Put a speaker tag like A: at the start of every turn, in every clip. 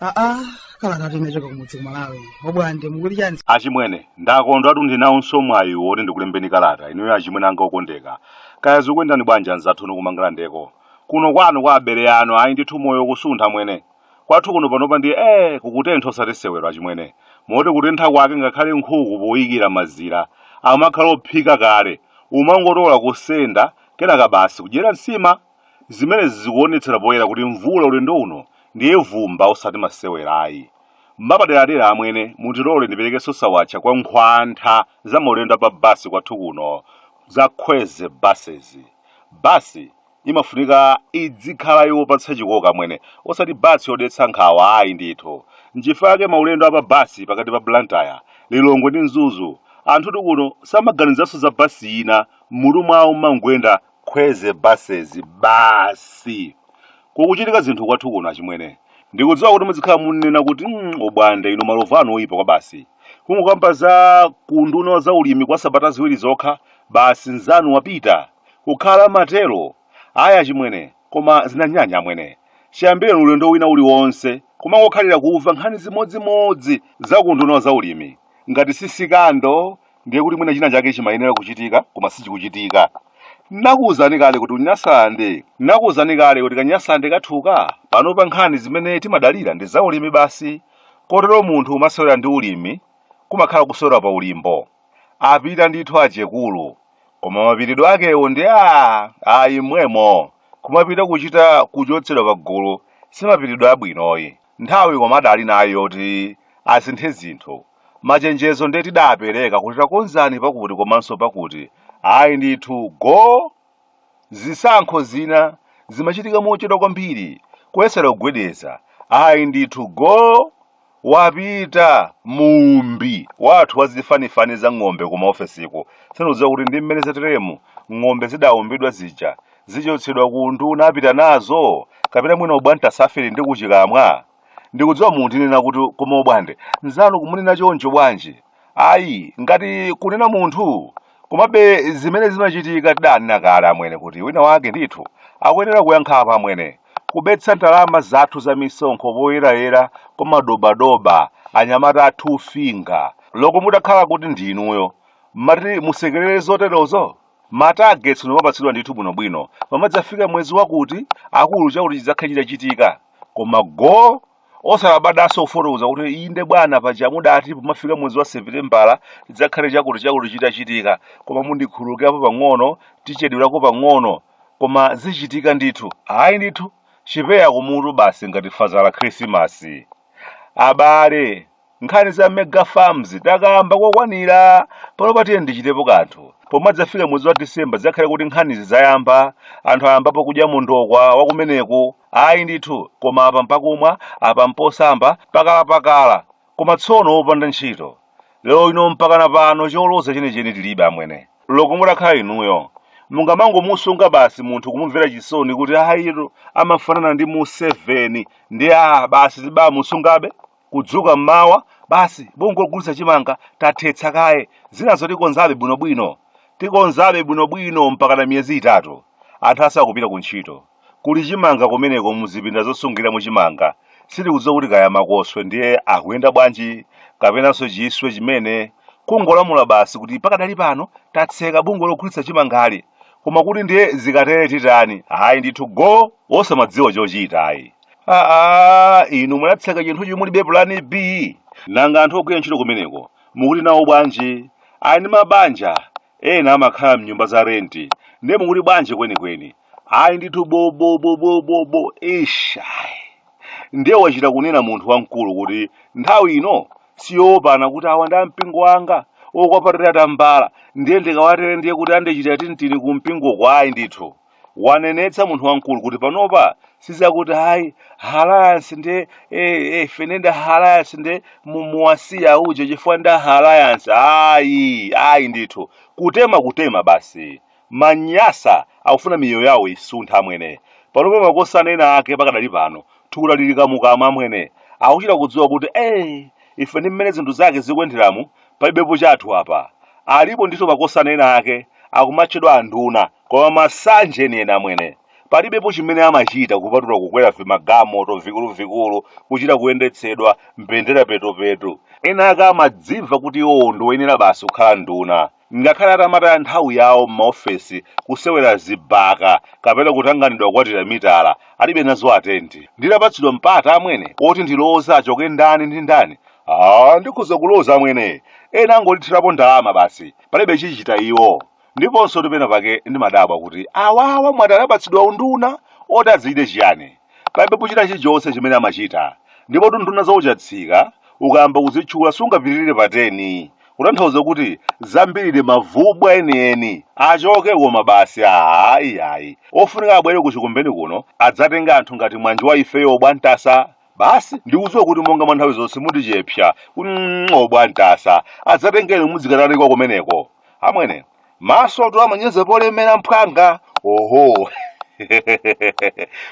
A: aa kalata ati inachoka kumudzi kumalawi obwande mukuti chani achimwene
B: ndakondwatu ndinawonso mwayi woti ndikulembeni kalata inuyo achimwene anga okondeka kaya zikuyendani bwanji anzathu inu kumangalandeko kuno kwanu kwa abere anu ayi ndithu moyo kusuntha amwene Kwathu kuno panopa ndiye ee kukutentha osati sewero achimwene. Moti kutentha kwake ngakhale nkhuku poikira mazira amakhala ophika kale. Umangotola kusenda kenaka basi kudyera nsima. Zimenezi zikuonetsera poyera kuti mvula ulendo uno ndiye ivumba osati masewera ayi. Mwapaderadera amwene mutilole ndiperekenso sawatcha kwa nkhwantha za maulendo a pa bus kwathu kuno za Kwezy Buses. Bus imafunika idzikhala yopatsa chikoka amwene osati bus yodetsa nkhawa ayi ndithu. Nchifukwa chake maulendo a pa bus pakati pa Blantyre, Lilongwe ndi Mzuzu anthutu kuno samaganizanso za bus ina m'mutu mwawo mumangoyenda Kwezy buses basi! Kukuchitika zinthu kwathu kuno achimwene. Ndikudziwa kuti mudzikhala munnena kuti mm Obwande inu malovu anu oyipa kwabasi. Kungokamba za ku unduna wa za ulimi kwa sabata ziwiri zokha basi nzanu wapita! Kukhala matero? Ayi achimwene, koma zinanyanya amwene. Chiyambireni ulendo wina uliwonse kumangokhalira kuva nkhani zimodzimodzi za ku unduna wa za ulimi. Ngati si sikando ndiye kuti mwina china chake chimayenera kuchitika koma sichikuchitika. Ndinakuuzani kale kuti Nyasaland. Ndinakuuzani kale kuti ka Nyasaland kathuka. Panopa nkhani zimene timadalira ndi za ulimi basi, kotero munthu kumasewera ndi ulimi kumakhala kusewera pa ulimbo. Apita ndithu achekulu koma mapitidwe akewo ndi aah ayi mmwemo kumapita kuchita kuchotsedwa pagulu simapitidwe abwino ayi. Nthawi koma adali nayo yoti asinthe zinthu. Machenjezo nde tidapereka kuti takonzani pakuti komanso pakuti ayi ndithu go Zisankho zina zimachitika mochedwa kwambiri, kuyesera kugwedeza, ayi ndithu, go wapita muumbi wathu wa zifanifani za ng'ombe ku maofesiko. Sindikudziwa kuti ndi mmene zateremu ng'ombe zidaumbidwa zija zichotsedwa ku unduna apita nazo, kapena mwina ubwanta safiri ndi kuchikamwa. Ndikudziwa mundinena kuti koma Obwande, mnzanu kumunena choncho bwanji? Ayi, ngati kunena munthu. Komabe zimene zimachitika tidanena kale amwene kuti wina wake ndithu akuyenera kuyankha apa amwene. Kubetsa ndalama zathu za misonkho poyerayera kwa madobadoba anyamata a Two Finger loko mutakhala kuti ndi inuyo, mmati musekelere zoterozo? Ma targets nkumapatsidwa ndithu bwinobwino, pomadzafika mwezi wakuti, akulu chakuti chidzakhala chitachitika. koma go osalabadanso kufotokoza kuti inde bwana paja mudati pomafika mwezi wa sepitembala tidzakhale chakuti chakuti chitachitika koma mundikhululukirapo pang'ono tichedwerako pang'ono koma zichitika ndithu ayi ndithu chipeya kumutu basi ngati faza khrisimasi abale Nkhani za mega farms takamba kokwanira. Panopa tiyeni tichitepo kanthu. Pomwe adzafika mwezi wa December zidzakhale kuti nkhanizi zayamba, anthu ayambapo kudya mondokwa wa kumeneko. Ayi ndithu, koma apa mpakumwa, apa mposamba, pakalapakala. Koma tsono opanda ntchito. Lero lino mpakana pano choloza chenicheni tilibe amwene. Loko mutakhala inuyo, mungamangomusunga basi munthu kumumvera chisoni kuti ayitu amafanana ndi Museveni ndiye ah basi tibamusungabe? Kudzuka m'mawa, basi bungwe logulitsa chimanga tathetsa kaye, zinazo tikonzabe bwinobwino. Tikonzabe bwinobwino mpakana miyezi itatu. Anthu asakupita kuntchito. Kuli chimanga kumeneko muzipinda zosungiramo chimanga. Sitikudziwa kuti kaya makoswe ndiye akuyenda bwanji kapenanso chiswe chimene. Kungolamula basi kuti pakadali pano tatseka bungwe logulitsa chimangali. Koma kuti ndiye zikatere titani? Ayi ndithu go! Osamadziwa chochita ayi. aa inu munatseka chinthu chomwe mulibe pulani b nanga anthu ogwira ntchito kumeneko mukuti nawo bwanji ali ndi mabanja ena amakhala mnyumba za renti ndiye mukuti bwanji kwenikweni ayi ndithu bobobobobobo ish ayi ndiye wachita kunena munthu wamkulu kuti nthawi ino siyowopana kuti awa ndi ampingo wanga okwapatira tambala ndiye ndikawatere ndiye kuti andichitira tintini ku mpingoko ayi ndithu wanenetsa munthu wamkulu kuti panopa sizakuti ayi alliance nde ifene nda alliance nde mu- muwasiya auje chifukwa nda alliance ayi ayi ndithu kutema kutema basi manyasa akufuna miyoyo yawo isuntha amwene panopa makosana ena ake pakadali pano thukuta lili kamukamu amwene akuchita kudziwa kuti eh, ife ndi mmene zinthu zake zikuyenderamu palibepo chathu apa alipo ndithu makosana ena ake akumatchedwa anduna koma masanje enieni amwene palibepo chimene amachita kupatula kukwera vimagamoto vikuluvikulu kuchita kuyendetsedwa mbendera petopetu ena ake amadzimva kuti iwowo ndiwoyenera basi kukhala nduna ngakhale atamataya nthawi yawo m'maofesi kusewera zibaka kapena kutanganidwa kukwatira mitala alibe nazo attention nditapatsidwa mpata amwene oti ndiloze achoke ndani ndi ndani Ah, ndikhoza kuloza amwene ena angotithera ndalama basi palibe chichita iwo ndiponsotu pena pake ndimadabwa kuti awawa mwati anapatsidwa unduna oti azichite chiyani palibe pochita chilichonse chimene amachita ndipo nduna zakuchangamuka ukayamba kuzitchula sungapitirire pa 10 kutanthauza kuti zambiri mavubwa enieni achoke koma basi ayi ayi ofunika abwere ku chikumbeni kuno adzatenge anthu ngati mwanjo wa ifeyo obwantasa basi ndikudziwa kuti monga mwa nthawi zonse mundichepsa kuti obwantasa adzatengeni mudzikatalikwa kumeneko amwene masotu amanyenga pole mphwanga oho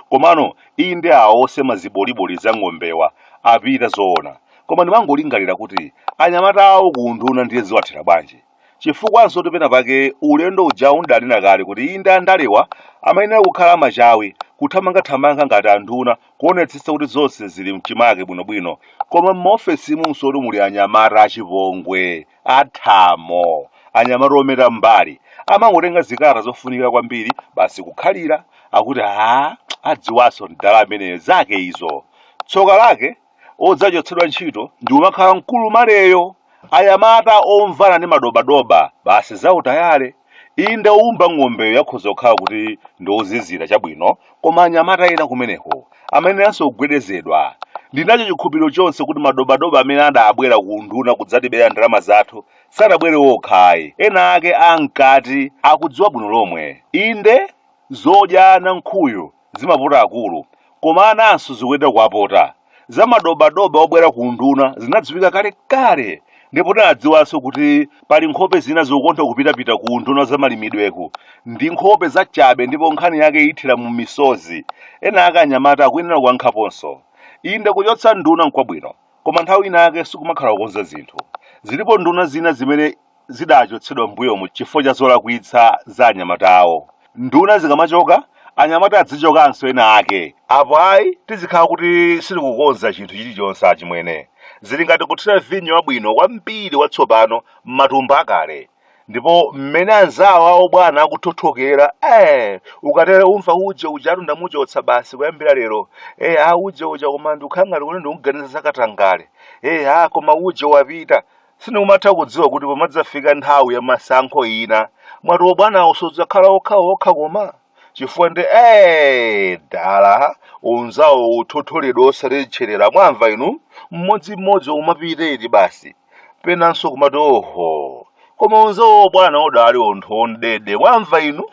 B: komano iyi ndi awo osema ziboliboli za ng'ombewa apita zoona koma ndimangolingalira kuti anyamata awo ku unduna ndiye ziwathera bwanji Chifukwansotu pena pake ulendo ujawu ndidanena kale kuti inde andalewa amayenera kukhala amachawi, kuthamangathamanga ngati anduna kuonetsetsa kuti zonse zili m'chimake bwinobwino. Koma m'maofesimunsotu muli anyamata achipongwe, athamo, anyamata omera m'mbali. Amangotenga zikalata zofunika kwambiri basi kukhalira, akuti haa adziwanso mdala ameneyo, zake izo. Tsoka lake? odzachotsedwa ntchito ndi kumakhala mkulu maleyo anyamata omvana ndi madobadoba basi zautayale inde owumba ng'ombeyo yakhoza kukhala kuti ndi ozizira chabwino koma anyamata ena kumeneko amayeneranso kugwedezedwa ndinacho chikhulupiriro chonse kuti madobadoba amene adabwera ku unduna kudzatibera ndalama zathu sadabwere okha ayi ena ake amkati akudziwa bwino lomwe inde zodyana nkhuyu zimapota akulu koma ananso zikuyenera kuwapota. Za madobadoba obwera ku unduna zinadziwika kalekale ndipo tinadziwanso kuti pali nkhope zina zokonda kupitapita ku unduna wa zamalimidweku ndi nkhope zachabe ndipo nkhani yake ithera mu misozi. Ena ake anyamata akuyenera kuwankhaponso. Inde kuchotsa nduna n'kwabwino koma nthawi inayake sikumakhala kukonza zinthu. Zilipo nduna zina zimene zidachotsedwa m'mbuyomu chifukwa cha zolakwitsa za anyamata awo. Nduna zikamachoka, anyamata adzichokanso ena ake. Apo ayi tizikhala kuti sitikukonza chinthu chilichonse achimwene. Zili ngati kuthira vinyo wabwino kwambiri watsopano m'matumba akale. Ndipo mmene anzawo a obwana akuthothokera, ee, ukatero umva uje ujatu ndamuchotsa basi kuyambira lero. Ee, ah, uje uja koma ndikukhala ngati kuti ndikumuganizira za katangale. Ee, ah, koma uje wapita. Sindikumatha kudziwa kuti pomadzafika nthawi ya masankho ina, mwati obwanawo sadzakhala okhaokha koma? Chifukwa nde ee! dala, unzawo uthotholedwa osati tcherera mwamva inu? Mmodzimmodzi umapita eti basi. Penanso kumati oho! Koma unzawo obwana udali onthu ondede mwamva inu?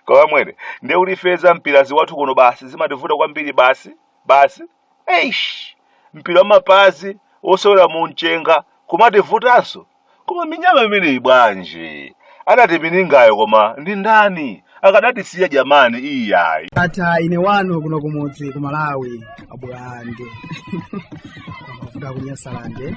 B: Koma mwene, ndiye kuti ife zampirazi kwathu kuno basi zimativuta kwambiri basi, basi. eish mpira wamapazi wosewera mu mchenga kumativutanso koma minyama imeneyi bwanji adati minyangayo koma ndi ndani akadatisiya jamani iyayi ata ine
A: wanu kuno kumudzi ku malawi abulande amavuta kunyasalande